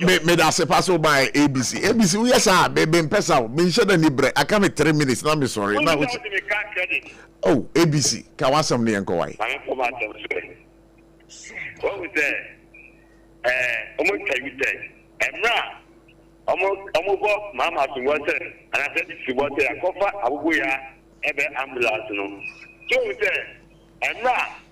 me me da se pa so ba abc abc wo yɛ saa me me mpɛ sa o me nhyɛ da ni brɛ aka me three minutes na me sɔre na o oh abc ka wasɛm no yɛ nkɔ wae wɔn sɛ ɛɛ wɔn twa yi sɛ ɛmra wɔn wɔn bɔ maama asombo sɛ anasɛ abc bɔ sɛ akɔfa abobo ya ɛbɛ ambulance no tí wɔn sɛ ɛmra.